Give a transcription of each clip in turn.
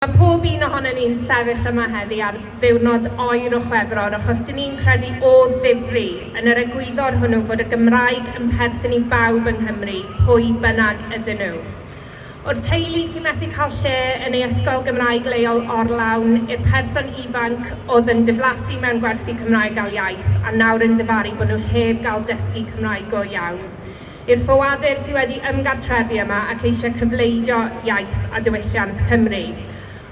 Mae pob un ohonon ni'n sefyll yma heddi ar ddiwrnod oer o Chwefror achos dyn ni'n credu o ddifri yn yr egwyddor hwnnw fod y Gymraeg yn perthyn i bawb yng Nghymru, pwy bynnag ydyn nhw. O'r teulu sy'n methu cael lle yn ei ysgol Gymraeg leol orlawn i'r person ifanc oedd yn diflasu mewn gwersi Cymraeg ail iaith a nawr yn difaru bod nhw heb gael dysgu Cymraeg go iawn, i'r ffoadur sydd wedi ymgartrefu yma ac eisiau cyfleidio iaith a diwylliant Cymru.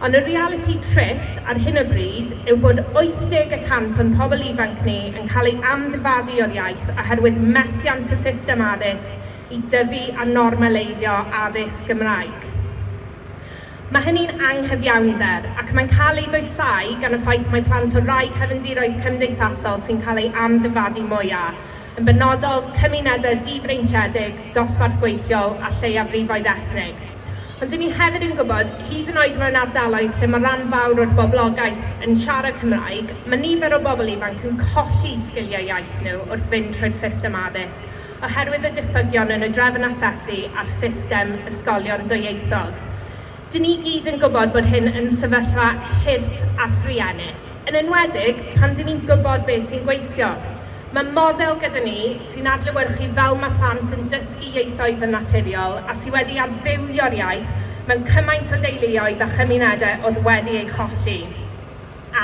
Ond y realiti trist ar hyn o bryd yw bod 80 y cant o'n pobl ifanc ni yn cael ei amddifadu o'r iaith oherwydd methiant y system addysg i dyfu a normaleiddio addysg Gymraeg. Mae hynny'n anghyfiawnder, ac mae'n cael ei ddwysáu gan y ffaith mae plant o rai cefndiroedd cymdeithasol sy'n cael ei amddifadu mwyaf, yn benodol cymunedau difreintiedig, dosbarth gweithiol a lleiafrifoedd ethnig. Ond 'dyn ni hefyd yn gwybod, hyd yn oed mewn ardaloedd lle mae rhan fawr o'r boblogaeth yn siarad Cymraeg, mae nifer o bobl ifanc yn colli sgiliau iaith nhw wrth fynd trwy'r system addysg, oherwydd y diffygion yn y drefn asesu a'r system ysgolion dwyieithog. Dyn ni i gyd yn gwybod bod hyn yn sefyllfa hurt a thruenus, yn enwedig pan dyn ni'n gwybod beth sy'n gweithio. Mae model gyda ni sy'n adlewyrchu fel mae plant yn dysgu ieithoedd yn naturiol a sy wedi adfywio'r iaith mewn cymaint o deuluoedd a chymunedau oedd wedi ei cholli.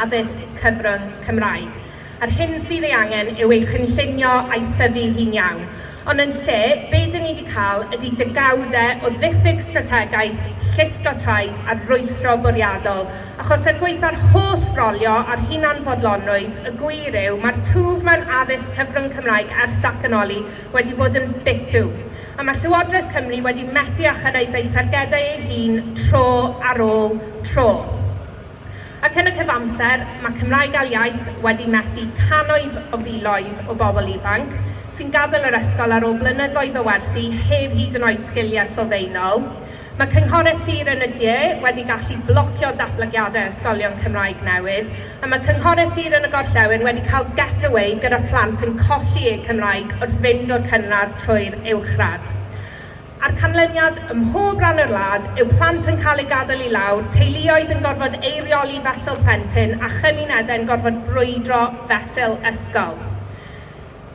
addysg cyfrwng Cymraeg. A'r hyn sydd ei angen yw ei chynllunio a'i thyfu hi'n iawn. Ond yn lle, be dyn ni wedi cael ydy degawde o ddiffyg strategaeth, llusgo traed a rwystro bwriadol. Achos er gwaetha'r holl frolio a'r hunanfodlonrwydd, y gwir yw, mae'r twf mewn addysg cyfrwng Cymraeg ers datganoli wedi bod yn bitw. A mae Llywodraeth Cymru wedi methu â chyrraedd ei thargedau ei hun tro ar ôl tro. Ac yn y cyfamser, mae Cymraeg Ail Iaith wedi methu cannoedd o filoedd o bobl ifanc sy'n gadael yr ysgol ar ôl blynyddoedd o wersi heb hyd yn oed sgiliau sylfaenol. Mae cynghorau sir yn y de wedi gallu blocio datblygiadau ysgolion Cymraeg newydd, a mae cynghorau sir yn y gorllewin wedi cael get-away gyda phlant yn colli eu Cymraeg wrth fynd o'r cynradd trwy'r uwchradd. A'r canlyniad, ym mhob rhan o'r wlad, yw plant yn cael eu gadael i lawr, teuluoedd yn gorfod eirioli fesul plentyn a chymunedau'n gorfod brwydro fesul ysgol.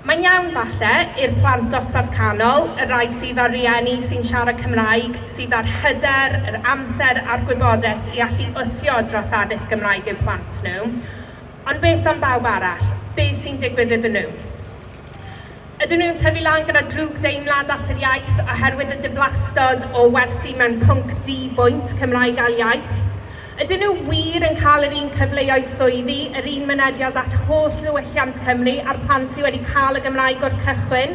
Mae'n iawn, falle, i'r plant dosbarth canol, y rhai sydd â rhieni sy'n siarad Cymraeg, sydd â'r hyder, yr amser a'r gwybodaeth i allu wthio dros addysg Gymraeg eu plant nhw, ond beth am bawb arall? Be sy'n digwydd iddyn nhw? Ydyn nhw'n tyfu lan gyda drwg deimlad at yr iaith oherwydd y diflastod o wersi mewn pwnc di-bwynt Cymraeg ail iaith? Ydyn nhw wir yn cael yr un cyfleoedd swyddi, yr un mynediad at holl ddiwylliant Cymru a'r plant sy wedi cael y Gymraeg o'r cychwyn?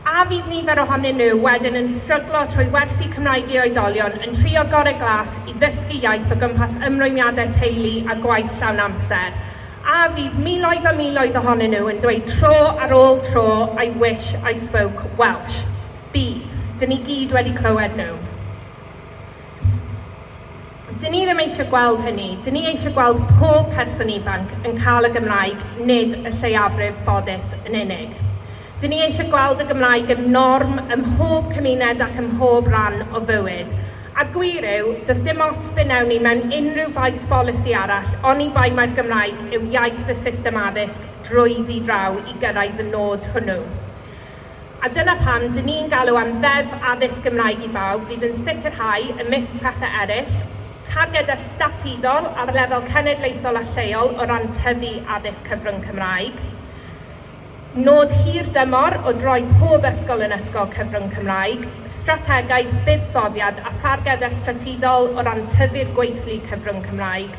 A fydd nifer ohonyn nhw wedyn yn stryglo trwy wersi Cymraeg i oedolion yn trio gorau glas i ddysgu iaith o gwmpas ymrwymiadau teulu a gwaith llawn amser? A fydd miloedd a miloedd ohonyn nhw yn dweud tro ar ôl tro 'I wish I spoke Welsh'? Bydd. Dyn ni gyd wedi clywed nhw. Dyn ni ddim eisiau gweld hynny. Dyn ni eisiau gweld pob person ifanc yn cael y Gymraeg, nid y lleiafrif ffodus yn unig. Dyn ni eisiau gweld y Gymraeg yn norm ym mhob cymuned ac ym mhob rhan o fywyd. A'r gwir yw, does dim ots be wnewn ni mewn unrhyw faes bolisi arall oni bai mai'r Gymraeg yw iaith y system addysg drwyddi draw i gyrraedd y nod hwnnw. A dyna pam dŷn ni'n galw am Ddeddf Addysg Gymraeg i Bawb fydd yn sicrhau, ymysg pethau eraill, targedau statudol ar lefel cenedlaethol a lleol o ran tyfu addysg cyfrwng Cymraeg. Nod hir dymor oedd rhoi pob ysgol yn ysgol cyfrwng Cymraeg, strategaeth, buddsoddiad a tharged estrategol o ran tyfu'r gweithlu cyfrwng Cymraeg,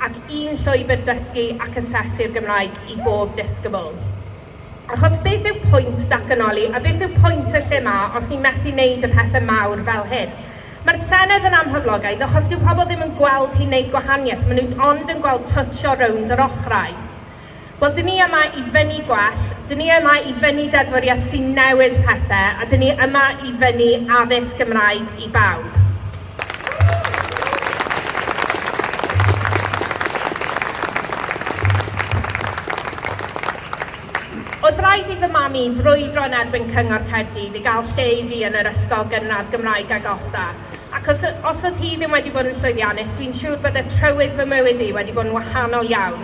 ac un llwybr dysgu ac asesu'r Gymraeg i bob disgybl. Achos beth yw pwynt datganoli a beth yw pwynt y lle 'ma os ni'n methu wneud y pethe mawr fel hyn? Mae'r Senedd yn amhoblogaidd achos dyw pobl ddim yn gweld hi'n wneud gwahaniaeth, maen nhw ond yn gweld twtsio rownd yr ochrau. Wel, dyn ni yma i fynnu gwell, dyn ni yma i fynnu deddfwriaeth sy'n newid pethau, a dyn ni yma i fynnu addysg Gymraeg i bawb. Oedd rhaid i fy mam i frwydro yn erbyn Cyngor Caerdydd i gael lle i fi yn yr ysgol gynradd Gymraeg agosa, ac os, os oedd hi ddim wedi bod yn llwyddiannus, dwi'n siŵr bydde trywydd fy mywyd i wedi bod yn wahanol iawn.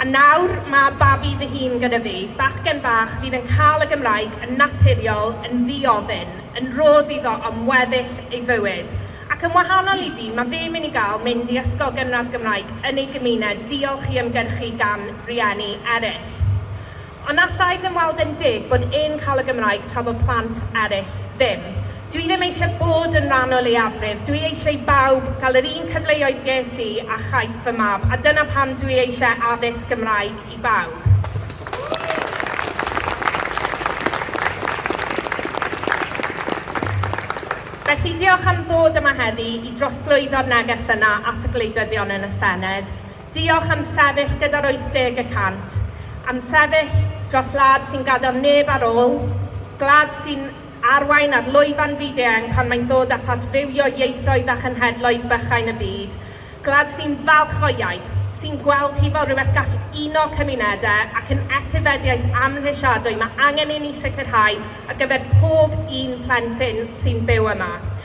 A nawr, ma' babi fy hun gyda fi, bachgen fach fydd yn cael y Gymraeg yn naturiol, yn ddi-ofyn, yn rhodd iddo am weddill ei fywyd. Ac yn wahanol i fi, ma' fe mynd i gael mynd i ysgol gynradd Gymraeg yn ei gymuned, diolch i ymgyrchu gan rieni eraill. Ond allai ddim weld e'n deg bod e'n cael y Gymraeg tra bod plant eraill ddim. Dw i ddim eisiau bod yn rhan o leiafrif, dw i eisiau i bawb gael yr un cyfleoedd ges i a chaiff fy mab a dyna pam dw i eisiau addysg Gymraeg i bawb. Felly diolch am ddod yma heddi i drosglwyddo'r neges yna at y gwleidyddion yn y Senedd. Diolch am sefyll gyda'r 80 y cant, am sefyll dros wlad sy'n gadael neb ar ôl, gwlad sy'n arwain ar lwyfan fyd-eang pan mae'n dod at adfywio ieithoedd a chenhedloedd bychain y byd, gwlad sy'n falch o'i iaith, sy'n gweld hi fel rhywbeth gall uno cymunedau ac yn etifeddiaeth amhrisiadwy mae angen i ni sicrhau ar gyfer pob un plentyn sy'n byw yma.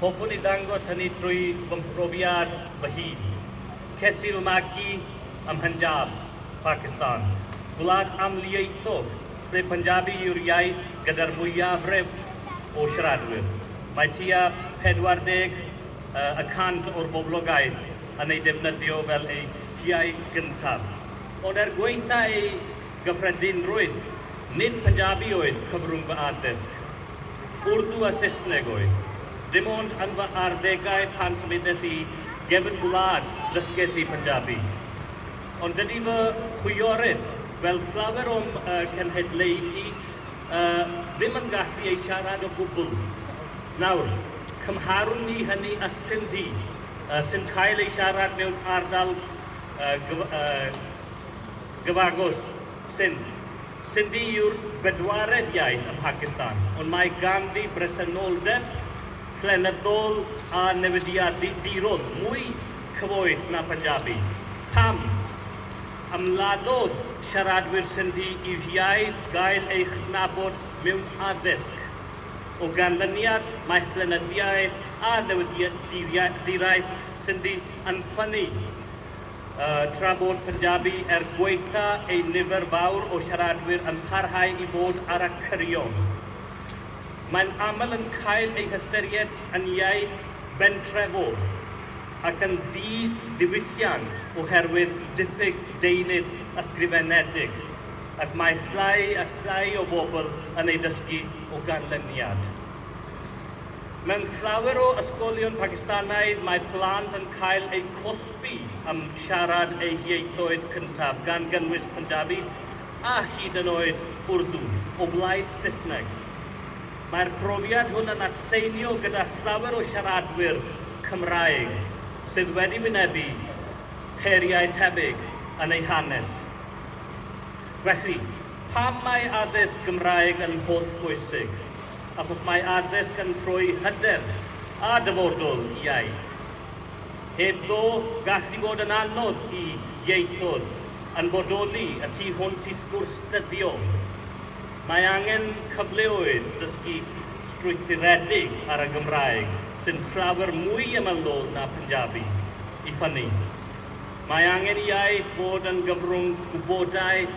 Hoffwn i ddangos hynny trwy fy mhrofiad fy hun. Ces i fy magu ym Mhunjab, Pacistan, gwlad amlieithog lle Punjabi yw'r iaith gyda'r mwyafrif o siaradwyr. Mae tua 40 y cant o'r boblogaeth yn ei defnyddio fel eu hiaith gyntaf. Ond er gwaetha ei gyffredinrwydd, nid Punjabi oedd cyfrwng fy addysg. Urdu a Saesneg oedd. Dim ond yn fy arddegau pan symudes i gefn gwlad ddysges i Punjabi. Ond dydy fy chwiorydd, fel llawer o'm cenhedlaeth i, ddim yn gallu ei siarad o gwbl. Nawr, cymharwn ni hynny â Sindhi, sy'n cael ei siarad mewn ardal gyfagos, Sindh. Sindhi yw'r bedwaredd iaith ym Mhacistan, ond mae ganddi bresenoldeb llenyddol a newidiadurol mwy cyfoeth na Punjabi. Pam? Ymladdodd siaradwyr Sindhi i'w hiaith gael ei chydnabod mewn addysg. O ganlyniad, mae llenyddiaeth a newidiaduraeth Sindhi yn ffynnu. tra bod Punjabi er gwaetha ei nifer fawr o siaradwyr yn parhau i fod ar y cyrion. Mae'n aml yn cael ei hystyried yn iaith bentrefol ac yn ddi-ddiwylliant oherwydd diffyg deunydd ysgrifenedig, ac mae llai a llai o bobl yn ei dysgu o ganlyniad. Mewn llawer o ysgolion Pacistanaidd mae plant yn cael eu cosbi am siarad eu hieithoedd cyntaf, gan gynnwys Punjabi a hyd yn oed Urdu, o blaid Saesneg. Mae'r profiad hwn yn atseinio gyda llawer o siaradwyr Cymraeg sydd wedi wynebu heriau tebyg yn eu hanes. Felly, pam mae addysg Gymraeg yn hollbwysig? achos mae addysg yn rhoi hyder a dyfodol i iaith. Heb ddo, gall hi fod yn anodd i ieithoedd yn bodoli y tu hwnt i sgwrs dyddiol. Mae angen cyfleoedd dysgu strwythuredig ar y Gymraeg sy'n llawr mwy ymylol na Punjabi i ffynnu. Mae angen i iaith fod yn gyfrwng gwybodaeth,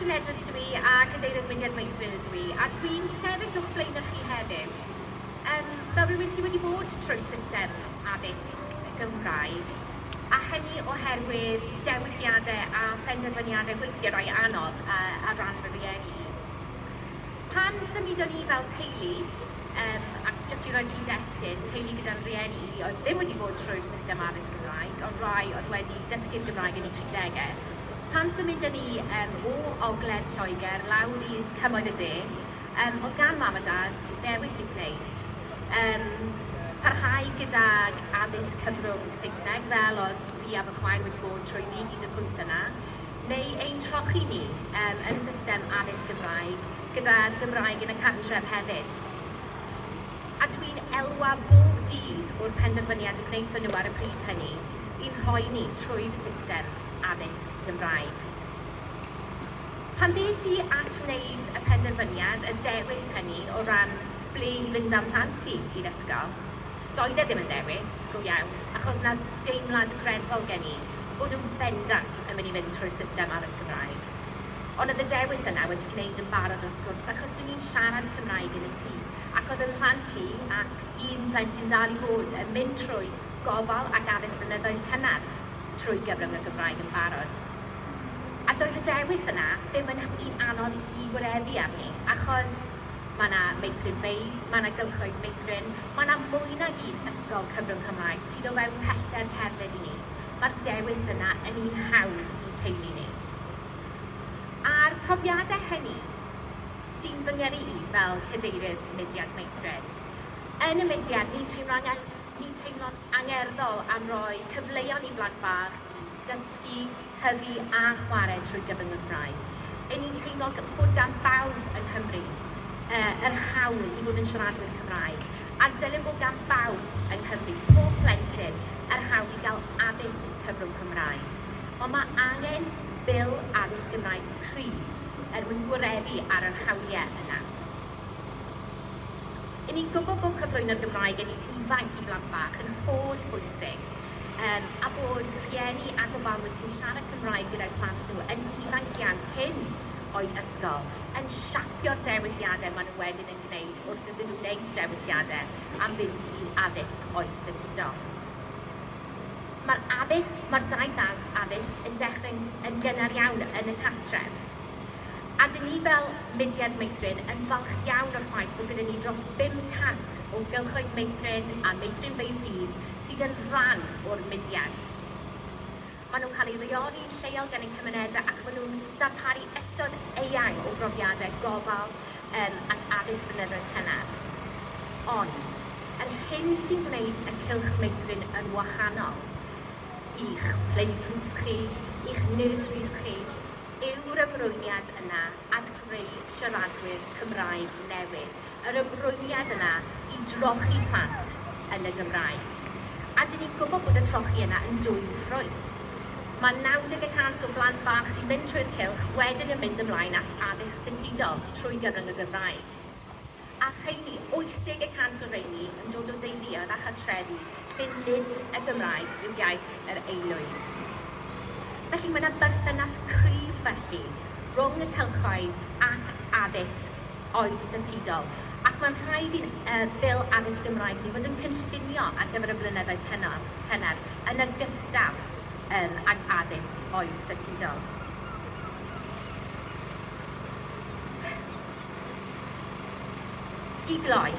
Catrin Edwards dw i a Cadeirydd Mudiad Wakefield ydw i a dw i'n sefyll o'ch blaenau chi heddiw um, fel rhywun sydd wedi bod trwy system addysg Gymraeg a hynny oherwydd dewisiadau a phenderfyniadau weithiau rai anodd a, a ran fy rieni i. Pan symudon ni fel teulu, um, ac jyst i roi cyd-destun, teulu gyda'n rieni i oedd ddim wedi bod trwy'r system addysg Gymraeg, ond rai oedd wedi dysgu'r Gymraeg yn y 30au, Pan symudon ni yym o ogledd Lloegr lawr i Cymoedd y De, yym o'dd gan Mam a Dad ddewis i gwneud, yym parhau gydag addysg cyfrwng Saesneg, fel o'dd fi a fy chwaer wedi bod trwyddi hyd y pwynt yna, neu ein trochi ni yym yn y system addysg Gymraeg, gyda'r Gymraeg yn y cartref hefyd. A dwi'n elwa bob dydd o'r penderfyniad y gwnaethon nhw ar y pryd hynny, i'n rhoi ni trwy'r system. addysg Gymraeg. Pan ddes i at wneud y penderfyniad, y dewis hynny o ran ble i fynd â'm plant i i'r ysgol, doedd e ddim yn ddewis go iawn, achos na deimlad greddfol gen i bod nhw bendant yn mynd i fynd trwy'r system addysg Gymraeg. Ond oedd y dewis yna wedi gwneud yn barod wrth gwrs, achos dyn ni'n siarad Cymraeg yn y tŷ, ac oedd 'y mhlant i, ac un plentyn dal i fod, yn mynd trwy gofal ac addysg blynyddoedd cynnar. trwy gyfrwng y Gymraeg yn barod. A doedd y dewis yna ddim yn un anodd i wireddu arni, achos mae yna meithrinfeydd, mae yna gylchoedd meithrin, mae yna mwy nag un ysgol cyfrwng Cymraeg sydd o fewn pellter cerdded i ni, mae'r dewis yna yn un hawdd i'n teulu ni. A'r profiadau hynny sy'n fy ngyrru i fel Cadeirydd Mudiad Meithrin. Yn y mudiad, ni'n teimlo angen Ni'n teimlo'n angerddol am roi cyfleon i blant bach dysgu, tyfu a chwarae trwy gyfrwng y Gymraeg. Y'n ni'n teimlo bod gan bawb yng Nghymru yr hawl i fod yn siaradwyr Cymraeg, a'r dylem bod gan bawb yng Nghymru, pob plentyn, yr hawl i gael addysg cyfrwng Cymraeg. Ond mae angen Bil Addysg Gymraeg cryf er mwyn gwareddu ar yr hawliau yna. Yn ni'n gwybod bod cyflwyno'r Gymraeg yn ifanc i blant bach yn holl bwysig um, a bod rhieni a gofalwyr sy'n siarad Cymraeg gyda'i plant nhw yn ifanc iawn cyn oed ysgol yn siapio'r dewisiadau maen nhw wedyn yn gwneud wrth iddyn nhw wneud dewisiadau am fynd i addysg oed datudol. Mae'r addysg, mae'r daith addysg yn dechrau'n yn gynnar iawn yn y cartref. A dyn ni fel mudiad meithrin yn falch iawn o'r ffaith bod gyda ni dros 500 o gylchoedd meithrin a meithrinfeydd dydd sydd yn rhan o'r mudiad. Maen nhw'n cael eu rheoli'n lleol gan eu cymunedau ac maen nhw'n darparu ystod eang o brofiadau gofal um, ac addysg blynyddoedd cynnar. Ond, yr hyn sy'n gwneud y cylch meithrin yn wahanol i'ch playgroups chi, i'ch nurseries chi, yw'r ymrwymiad yna at greu siaradwyr Cymraeg newydd, yr ymrwymiad yna i drochi plant yn y Gymraeg. A 'dyn ni'n gwybod bod y trochi yna yn dwyn ffrwyth. Mae 90 y cant o blant bach sy'n mynd trwy'r cylch wedyn yn mynd ymlaen at addysg datudol trwy gyfrwng y Gymraeg. a rheini, 80 y cant o reini, yn dod o deuluoedd a chartrefi lle nid y Gymraeg yw iaith yr aelwyd. Felly, mae yna berthynas cryf felly rhwng y cylchoedd ac addysg oed statudol, ac mae'n rhaid i'n yy Bil Addysg Gymraeg ni fod yn cynllunio ar gyfer y blynyddoedd cynnar, cynnar yn ogystal yym ag addysg oed statudol. I gloi,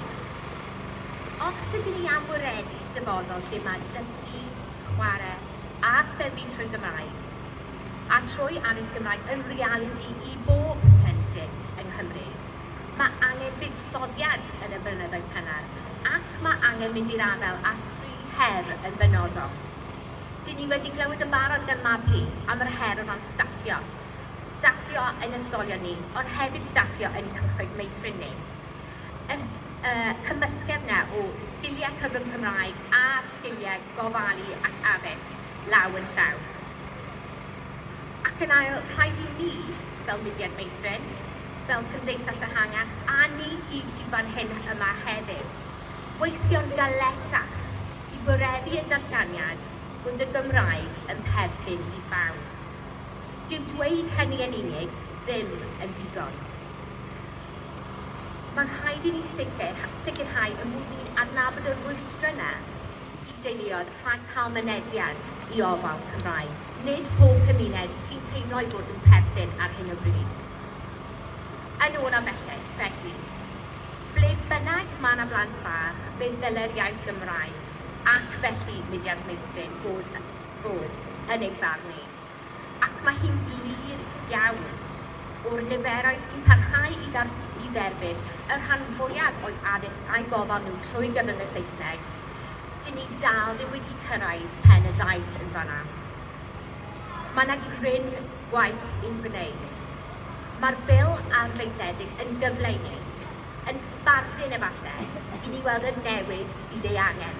os ydyn ni am wireddu dyfodol lle mae dysgu, chwarae a thyfu trwy Gymraeg, a trwy addysg Gymraeg yn realiti i bob plentyn yng Nghymru, mae angen buddsoddiad yn y blynyddoedd cynnar ac mae angen mynd i'r afael â thri her yn benodol. Dyn ni wedi clywed yn barod gan Mabli am yr her o ran staffio. staffio ein ysgolion ni, ond hefyd staffio ein cylchoedd meithrin ni. Y y cymysgedd 'na o sgiliau cyfrwng Cymraeg a sgiliau gofalu ac addysg law yn llaw. Ac yn ail, rhaid i ni, fel mudiad meithrin, fel cymdeithas ehangach, a ni gyd sydd fan hyn yma heddiw, weithio'n galetach i wireddu y datganiad bod y Gymraeg yn perthyn i bawb. Dyw dweud hynny yn unig ddim yn ddigon. Mae'n rhaid i ni sicrhau y bod ni'n adnabod y rwystrau yna i deuluoedd rhag cael mynediad i ofal Cymraeg. Nid pob cymuned sy'n teimlo ei bod nhw'n perthyn ar hyn o bryd. Yn olaf felly, felly, ble bynnag mae yna blant bach, fe ddylai'r iaith Gymraeg, ac felly mudiad meithrin, fod yn fod yn ei farn e, ac mae hi'n glir iawn o'r niferoedd sy'n parhau i i dderbyn y rhan fwyaf o'u addysg a'u gofal nhw trwy gyfrwng y Saesneg, 'dyn ni dal ddim wedi cyrraedd pen y daith yn fan'na. Mae 'na gryn gwaith i'w gwneud. Mae'r Bil arfaethedig yn gyfle i ni, yn sbardun efallai, i ni weld y newid sydd ei angen.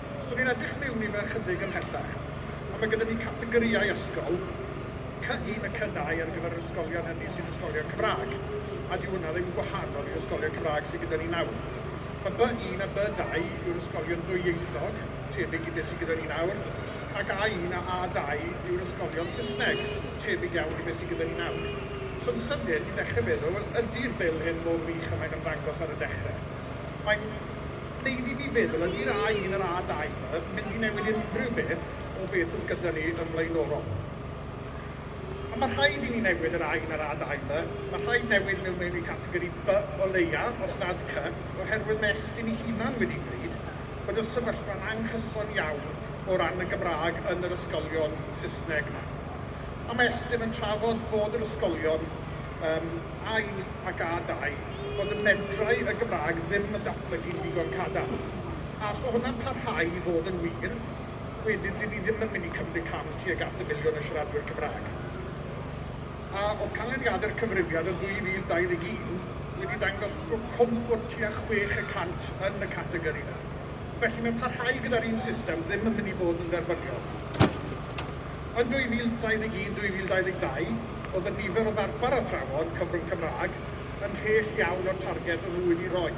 So ni'n edrych miwn i fe ychydig ymhellach. A ma' gyda ni categorïau ysgol, Cy-un a Cy-dau ar gyfer yr ysgolion hynny sy'n ysgolion Cymrâg. A dyw hwnna ddim yn gwahanol i'r ysgolion Cymrâg sy gyda ni nawr. Ma' By-un a By-dau yw'r ysgolion dwyieithog, tebyg i be sy gyda ni nawr, ac A-un a A-dau yw'r ysgolion Saesneg, tebyg iawn i be sy gyda ni nawr. So'n sydyn, ni'n dechre meddwl, wel ydi'r bil hyn mor wych a mae'n ymddangos ar y dechre? Mae'n. Wnei di fi feddwl, ydy'r A1 a'r A2 yn mynd i newid unrhyw beth o beth sydd gyda ni yn flaenorol? A mae rhaid i ni newid yr A1 a'r A2 'ma, mae rhaid newid mewn mewn i categori by o leia, os nad cy, oherwydd mae Estyn ei hunan wedi gweud bod y sefyllfa'n anghyson iawn o ran y Gymraeg yn yr ysgolion Saesneg 'ma. A mae Estyn yn trafod bod yr ysgolion yym A1 ac A2 bod y medrau y Gymraeg ddim yn datblygu'n ddigon cadarn. A os mae hwnna'n parhau i fod yn wir, wedyn dyn ni ddim yn mynd i cymryd cam tuag at y miliwn o siaradwyr Cymraeg. A oedd canlyniadau'r cyfrifiad yn 2021 wedi dangos bod cwmp o tua chwech y cant yn y categori yna. Felly mae parhau gyda'r un system ddim yn mynd i fod yn dderbyniol. Yn 2021, 2022, oedd y nifer o ddarpar athrawon cyfrwng Cymraeg ymhell iawn o'r targed o'n nhw wedi rhoi.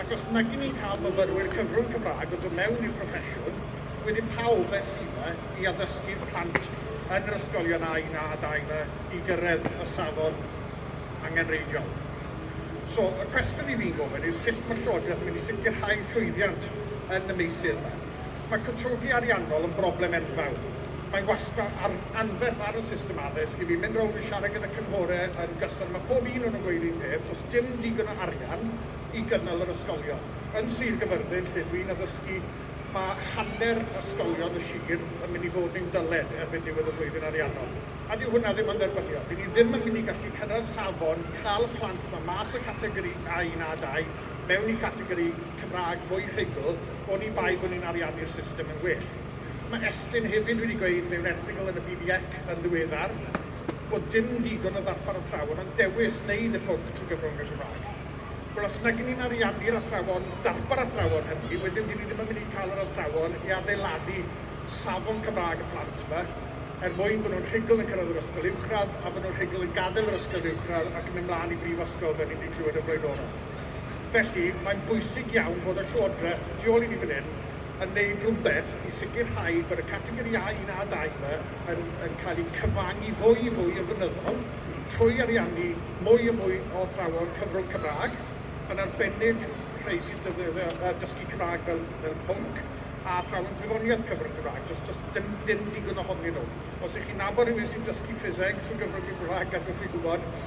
Ac os nagyn ni'n cael myfyrwyr cyfrwng Cymraeg o ddod mewn i'r proffesiwn, wedyn pa obaith sydd 'na i addysgu'r plant yn yr ysgolion A un, A dau 'ma i gyrraedd y safon angenreidiol? So, y cwestiwn i fi'n gofyn yw sut mae'r Llywodraeth yn mynd i sicrhau llwyddiant yn y meysydd 'ma? Mae cytundeb ariannol yn broblem enfawr. Mae'n wastad ar anferth ar y system addysg i fi mynd rownd yn siarad gyda cynghore yn gyson a mae pob un o nhw'n gweud un peth, does dim digon o arian i gynnal yr ysgolion. Yn Sir Gyfyrddin lle dwi'n addysgu mae hanner ysgolion y sir yn mynd i fod mewn dyled erbyn diwedd y flwyddyn ariannol a dyw hwnna ddim yn dderbyniol. Ry'n ni ddim yn mynd i gallu cyrraedd safon cael y plant 'ma mas o categori A1, A2 mewn i categori Cymraeg mwy rhugl. oni bai bod ni'n ariannu'r system yn well. Mae Estyn hefyd wedi gweud mewn erthygl yn y BDEC yn ddiweddar bod dim digon o ddarpar athrawon ond dewis wneud y pwnc trwy gyfrwng y Gymraeg. Wel, os nag 'yn ni'n ariannu'r athrawon, darpar athrawon hynny, wedyn dŷn ni ddim yn mynd i cael yr athrawon i adeiladu safon Cymraeg y plant yma er mwyn bod nhw'n rhugl yn cyrraedd yr ysgol uwchradd a bod nhw'n rhugl yn gadael yr ysgol uwchradd ac yn mynd mlaen i brifysgol fel ni'n 'di clywed yn flaenorol. Felly, mae'n bwysig iawn bod y Llywodraeth tu ôl i ni fan hyn yn gwneud rhywbeth i sicrhau bod y categori A, un a dau 'ma yn yn cael eu cyfangu fwy a fwy yn flynyddol trwy ariannu mwy a mwy o athrawon cyfrwng Cymraeg, yn arbennig rhai sy'n defnyddio yy dysgu Cymraeg fel fel pwnc, a athrawon gwyddoniaeth cyfrwng Cymraeg. Does does dim dim digon ohonyn nhw. Os 'y chi'n nabod rhywun sy'n dysgu ffiseg trwy gyfrwng y Gymraeg, gadewch fi gwybod.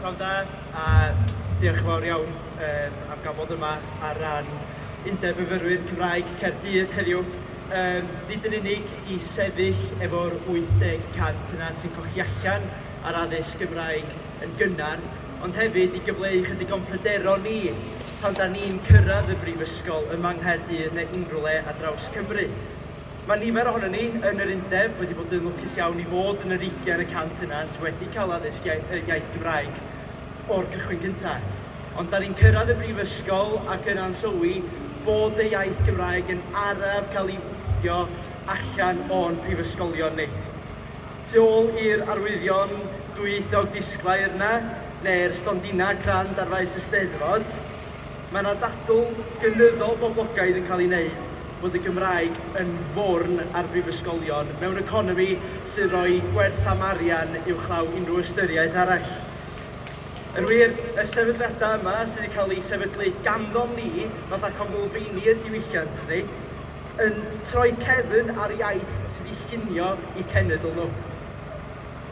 Pnawn da, a diolch yn fawr iawn um, am gael bod yma ar ran Undeb Myfyrwyr Cymraeg Caerdydd heddiw. Um, nid yn unig i sefyll efo'r 80% yna sy'n cochi allan ar addysg Gymraeg yn gynnar, ond hefyd i gyfleu chydig o'n pryderon ni pan da ni'n cyrraedd y brifysgol yma yng Nghaerdydd neu unrhyw le ar draws Cymru. Mae nifer ohonon ni yn yr undeb wedi bod yn lwcus iawn i fod yn yr ugain y cant yna sydd wedi cael addysg y iaith Gymraeg o'r cychwyn gyntaf. Ond da ni'n cyrraedd y brifysgol ac yna'n sylwi bod y iaith Gymraeg yn araf cael ei wthio allan o'n prifysgolion ni. Tu ôl i'r arwyddion dwyieithog disglair 'na, neu'r stondinau crand ar faes y Steddfod, Mae yna ddadl gynyddol boblogaidd yn cael ei wneud fod y Gymraeg yn forn ar brifysgolion mewn economi sy'n rhoi gwerth am arian uwchlaw unrhyw ystyriaeth arall. Yn wir, y sefydliadau yma sydd wedi cael eu sefydlu ganddom ni, fatha Conglfeini y diwylliant ni, yn troi cefn ar iaith sydd wedi llunio eu cenedl nhw.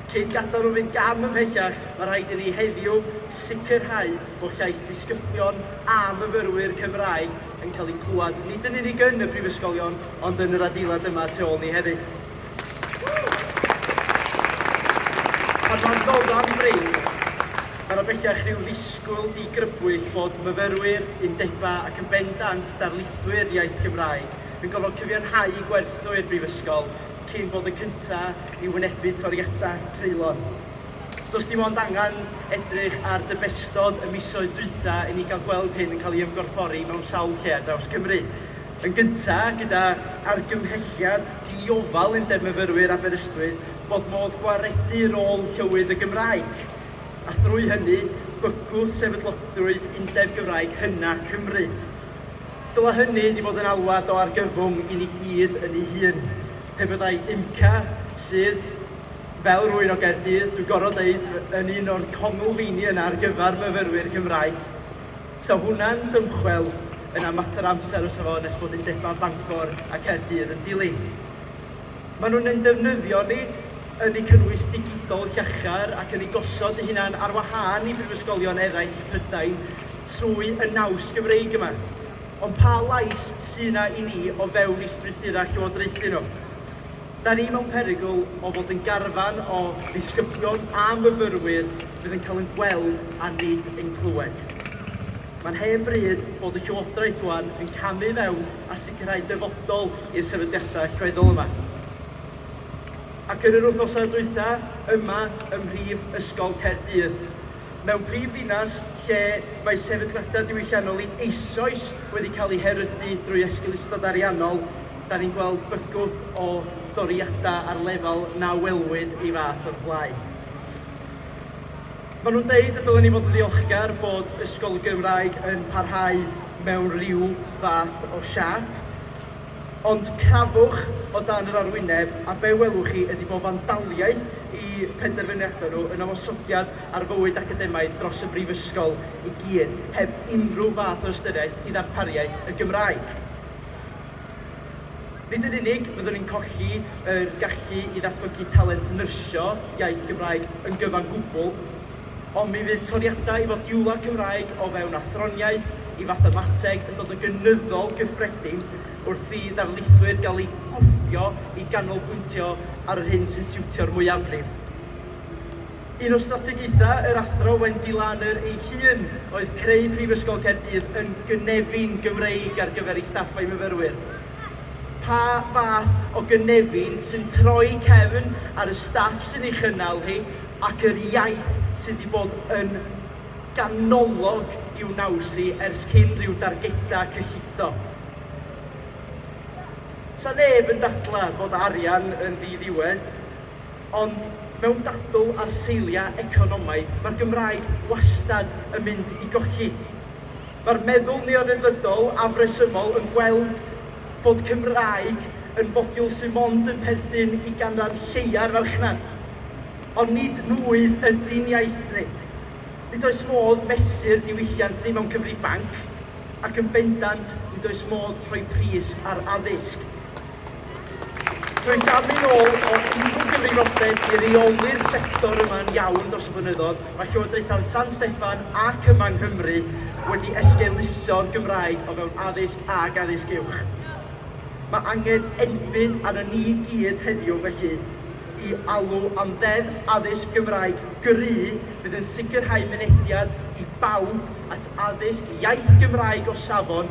Cyn gadael nhw fynd gam ymhellach, mae rhaid i ni heddiw sicrhau bod llais disgyblion a myfyrwyr Cymraeg yn cael eu clywed, nid yn unig yn y prifysgolion, ond yn yr adeilad yma tu ôl ni hefyd. Pan fo'n dod am fryn, mae 'na bellach rhyw ddisgwyl digrybwyll fod myfyrwyr, undebau ac yn bendant darlithwyr iaith Gymraeg yn gorfod cyfiawnhau gwerth nhw i'r brifysgol, cyn bod y cynta i wynebu toriadau treulon. Does dim ond angen edrych ar dybestod y misoedd dwytha i ni gael gweld hyn yn cael ei ymgorffori mewn sawl lle ar draws Cymru. Yn gynta, gyda argymhelliad di-ofal Undeb Myfyrwyr Aberystwyth bod modd gwaredu rôl llywydd y Gymraeg, a thrwy hynny bygwth sefydlogrwydd Undeb Gymraeg Hyna Cymru. Dylai hynny wedi bod yn alwad o argyfwng i ni gyd yn ei hun. Pe byddai IMCA, sydd, fel rwy'n o Gaerdydd, dwi'n gorfod dweud, yn un o'r conglfeini yna ar gyfer myfyrwyr Cymraeg, 'sa hwnna'n dymchwel yna mater o amser fysa fo nes bod undebau Bangor a Caerdydd yn dilyn. Maen nhw'n ein defnyddio ni, yn eu cynnwys digidol llachar ac yn eu gosod eu hunain ar wahân i brifysgolion eraill Prydain trwy y naws Gymreig yma. Ond pa lais sy' 'na i ni o fewn eu strwythurau llywodraethu nhw? Da ni mewn perygl o fod yn garfan o ddisgyblion a myfyrwyr fydd yn cael ein gweld a nid ein clywed. Mae'n hen bryd bod y llywodraeth rŵan yn camu fewn a gyrraedd dyfodol i'r sefydliadau allweddol yma. Ac yn yr wythnosau dwytha yma ym mhrif ysgol Caerdydd, mewn prif ddinas lle mae sefydliadau diwylliannol i eisoes wedi cael eu herydu drwy esgeulustod ariannol, da ni'n gweld bygwth o doriadau ar lefel na welwyd ei fath o'r blaen. Maen nhw'n deud y dylen ni fod yn ddiolchgar bod ysgol Gymraeg yn parhau mewn rhyw fath o siâp. Ond crafwch o dan yr arwyneb a be welwch chi ydi bod fandaliaeth i penderfyniadau nhw yn ymosodiad ar fywyd academaidd dros y brifysgol i gyd, heb unrhyw fath o ystyriaeth i ddarpariaeth y Gymraeg. Nid yn unig fyddwn ni'n colli yr gallu i ddatblygu talent nyrsio iaith Gymraeg yn gyfan gwbl, ond mi fydd toriadau i fodiwlau Cymraeg o fewn athroniaeth i fathemateg yn dod yn gynyddol gyffredin wrth i ddarlithwyr gael eu gwthio i ganolbwyntio ar yr hyn sy'n siwtio'r mwyafrif. Un o strategaethau yr Athro Wendy Larner ei hun oedd creu Prifysgol Caerdydd yn gynefin Gymreig ar gyfer ei staff a'i myfyrwyr. Pa fath o gynefin sy'n troi cefn ar y staff sy'n ei chynnal hi ac yr iaith sydd wedi bod yn ganolog i'w naws hi ers cyn rhyw dargedau cyllido? Sa neb yn dadlau bod arian yn ddi-ddiwedd. Ond mewn dadl ar seiliau economaidd, mae'r Gymraeg wastad yn mynd i golli. Mae'r meddwl neoryddfrydol afresymol yn gweld bod Cymraeg yn fodiwl sydd mond yn perthyn i ganran lleia'r farchnad. Ond nid nwydd ydi'n iaith ni. Nid oes modd mesur diwylliant ni mewn cyfrifanc, ac yn bendant nid oes modd rhoi pris ar addysg. Rwy'n gafu'n ôl fod unrhyw gyfrifoldeb i reoli'r sector yma'n iawn dros y blynyddoedd, mae Llywodraethau San Steffan ac yma yng Nghymru wedi esgeuluso'r Gymraeg o fewn addysg ac addysg uwch. Mae angen enbyd arnon ni i gyd heddiw felly i alw am Ddeddf Addysg Gymraeg gry fydd yn sicrhau mynediad i bawb at addysg iaith Gymraeg o safon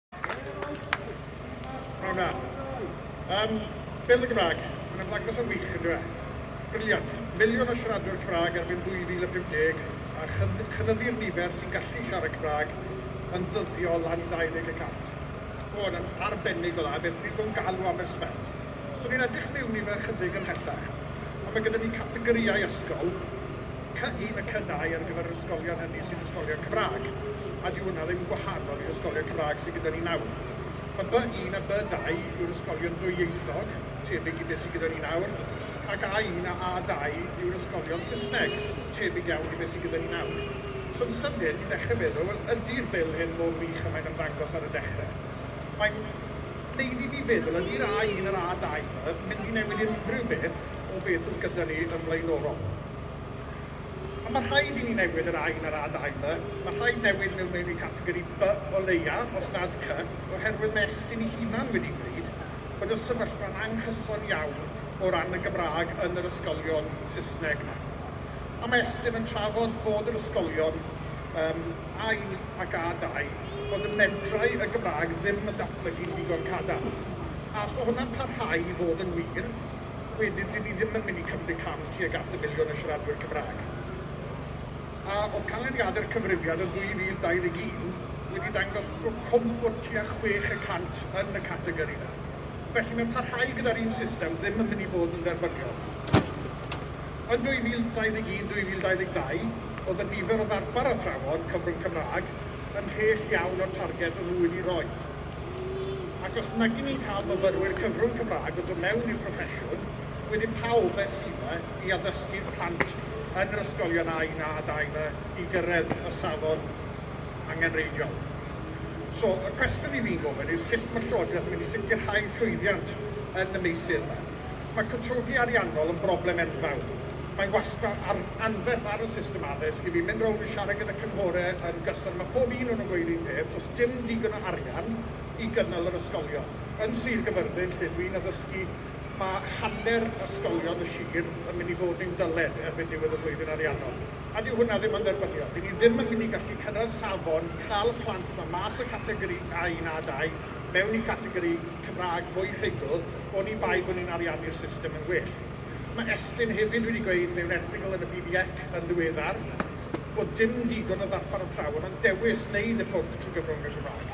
Rhona. Um, Bil y Gymraeg, mae'n ymddangos yn wych, yn dweud. Briliant. Miliwn o siaradwyr Cymraeg erbyn 2050 a chynyddu'r nifer sy'n gallu siarad Cymraeg yn ddyddiol am 20 y cant. O, yn arbennig o dda, beth dwi'n bod yn galw Aberystwyth. So ni'n edrych mewn i fe ychydig ymhellach. A mae gyda ni categorïau ysgol, Cyhyn y cynnau ar gyfer yr ysgolion hynny sy'n ysgolion Cymraeg, a dyw hwnna ddim yn gwahanol i'r ysgolion Cymraeg sydd gyda ni nawr. Y By-1 a By-2 yw'r ysgolion dwyieithog, tebyg i beth sydd gyda ni nawr, ac A-1 a A-2 yw'r ysgolion Saesneg, tebyg iawn i beth sydd gyda ni nawr. So yn sydyn, ni'n dechrau meddwl, wel, ydi'r Bil hyn mor wych a mae'n ymddangos ar y dechrau? Mae'n wneud i fi feddwl, ydi'r A-1 a'r A-2 'ma yn mynd i newid unrhyw beth o beth oedd gyda ni yn flaenorol. A mae rhaid i ni newid yr Ain a'r ADAI 'ma, mae rhaid newid mewn meini categori By o leia, os nad Cy, oherwydd mae Estyn ei hunan wedi gweud bod y sefyllfa'n anghyson iawn o ran y Gymraeg yn yr ysgolion Saesneg 'ma. A mae Estyn yn trafod bod yr ysgolion um, Ain ac ADAI, bod y medrai y Gymraeg ddim yn datblygu'n ddigon cadarn. A os mae hwnna'n parhau i fod yn wir, wedyn dyn ni ddim yn mynd i cymryd cam tuag at y miliwn o siaradwyr Cymraeg. A oedd canlyniadau'r cyfrifiad yn 2021 wedi dangos bod cwmp o tua chwech y cant yn y categori yna. Felly mae parhau gyda'r un system ddim yn mynd i fod yn dderbyniol. Yn 2021, 2022, oedd y nifer o ddarpar athrawon cyfrwng Cymraeg yn mhell iawn o'r targed o'n nhw wedi roi. Ac os nagyn ni'n cael myfyrwyr cyfrwng Cymraeg o dod mewn i'r proffesiwn, wedyn pa obaith sydd yna i addysgu'n plant yn yr ysgolion a'u na adael iddo i gyrraedd y safon angenreidiol? So, y cwestiwn 'yn ni'n gofyn yw sut mae'r Llywodraeth yn mynd i sicrhau llwyddiant yn y meysydd yma? Mae cytundeb ariannol yn broblem enfawr. Mae wastad ar anferth ar y system addysg i fi mynd rownd yn siarad gyda cynghorau yn gyson, mae pob un o nhw'n gweud yr un peth, does dim digon o arian i gynnal yr ysgolion. Yn Sir Gyfyrddin, lle dwi'n addysgu, mae hanner ysgolion y sir yn mynd i fod mewn dyled erbyn diwedd y flwyddyn ariannol. A dyw hwnna ddim yn dderbyniol. Ry'n ni ddim yn mynd i gallu cyrraedd safon cael plant 'ma mas o Categori A1 A2 mewn i Categori Cymraeg mwy rhugl, oni bai bod ni'n ariannu'r system yn well. Mae Estyn hefyd wedi gweud mewn erthygl yn y BDEC yn ddiweddar bod dim digon o ddarpar athrawon ond dewis wneud y pwnc trwy gyfrwng y Gymraeg.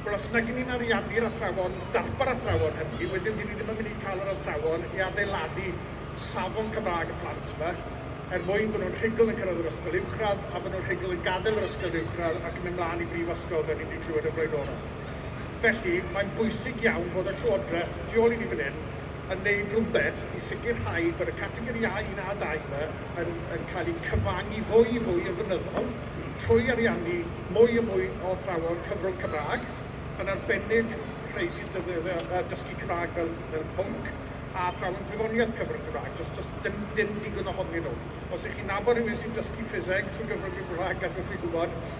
Wel, os nag 'yn ni'n ariannu'r athrawon, darpar athrawon hynny, wedyn 'dyn ni ddim yn mynd i cael yr athrawon i adeiladu safon Cymraeg y plant 'ma er mwyn bod nhw'n rhugl yn cyrraedd yr ysgol uwchradd a bod nhw'n rhugl yn gadael yr ysgol uwchradd ac yn mynd mlaen i brifysgol fel ni 'di clywed yn flaenorol. Felly, mae'n bwysig iawn fod y Llywodraeth tu ôl i ni fan hyn yn wneud rhywbeth i sicrhau bod y categori A un a dau yma yn yn cael eu cyfangu fwy fwy yn flynyddol trwy ariannu mwy a mwy o athrawon cyfrwng Cymraeg, yn arbennig rhei sy'n defnyddio yy dysgu Cymraeg fel fel pwnc, a athrawon gwyddoniaeth cyfrwng Cymraeg. Does does dim dim digon ohonyn nhw. Os 'y chi'n nabod rhywun sy'n dysgu ffiseg trwy gyfrwng y Gymraeg, gadwch fi gwybod.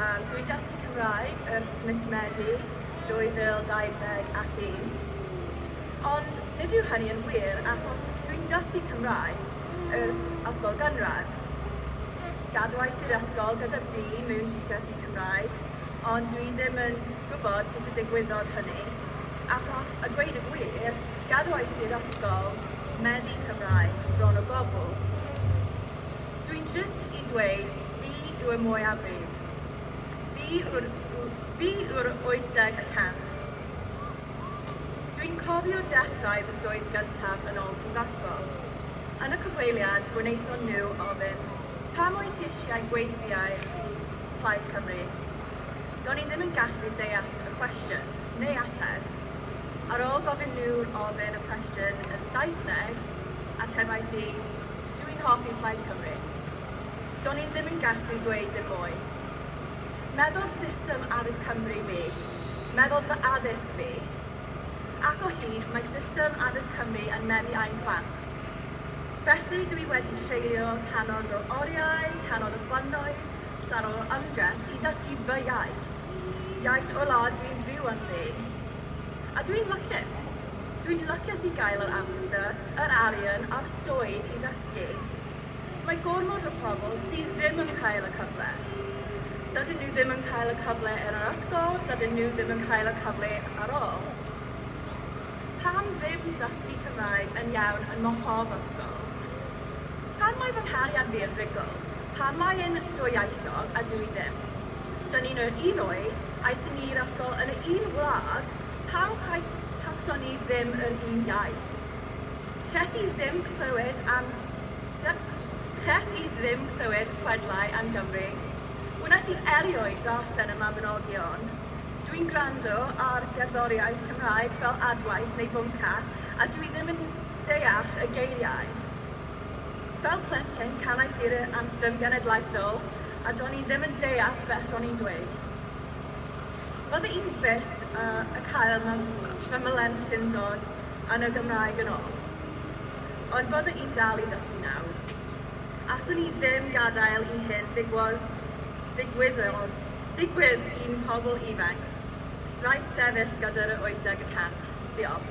Am Bwyd Dysgu Cymraeg ers mis Medi 2021. Ond nid yw hynny yn wir achos dwi'n dysgu Cymraeg ers ysgol gynradd. Gadwais i'r ysgol gyda B mewn GCSE Cymraeg ond dwi ddim yn gwybod sut y digwyddodd hynny achos a dweud y gwir gadwais i'r ysgol meddu Cymraeg bron o gwbl. Dwi'n jyst yn dweud Fi yw y mwyafrif. Fi yw'r fi yw'r 80 y cant. Dwi'n cofio dechrau fy swydd gyntaf yn ôl prifysgol. Yn y cyfweliad gwnaethon nhw ofyn pam wyt ti eisiau gweithiau i Plaid Cymru? Do'n i ddim yn gallu deall y cwestiwn, neu ateb. Ar ôl gofyn nhw ofyn y cwestiwn yn Saesneg, atebais i, dw i'n hoffi Plaid Cymru. Do'n i ddim yn gallu dweud dim mwy. Meddodd system addysg Cymru fi, meddodd fy addysg fi, ac o hyd mae system addysg Cymru yn meddu â'u plant. Felly dwi wedi treulio cannoedd o oriau, cannoedd o flynnoedd, llawer o ymdrech i ddysgu fy iaith, iaith o'r wlad dwi'n fyw ynddi. A dwi'n lwcus. Dwi'n lwcus i gael yr amser, yr arian a'r swydd i ddysgu. Mae gormod o pobl sydd ddim yn cael y cyfle. Dydyn nhw ddim yn cael y cyfle yn yr ysgol, dydyn nhw ddim yn cael y cyfle ar ôl. Pam ddim dysgu Cymraeg yn iawn yn mhob ysgol? Pam mae fy nghariad fi yn rugl? Pam mae e'n dwyieithog a dw i ddim? Dyn ni'n yr un oed, aethon ni i'r ysgol yn y un wlad, pam cawson ni ddim yr un iaith? Ces i ddim clywed am... Ces i ddim clywed chwedlau am Gymru. Wnes i erioed ddarllen y Mabinogion. Dwi'n gwrando ar gerddoriaeth Cymraeg fel adwaith neu bwnca a dwi ddim yn deall y geiriau. Fel plentyn canais i'r anthem genedlaethol a do'n i ddim yn deall beth o'n i'n dweud. Oedd y un peth a cael fy mhlentyn dod yn y Gymraeg yn ôl. Ond bydde i'n dal i ddysgu nawr. Allwn i ddim gadael i hyn ddigwodd, ddigwyddodd, ddigwydd i'n pobl ifanc. Rhaid sefyll gyda'r y 80 y cant. Diolch.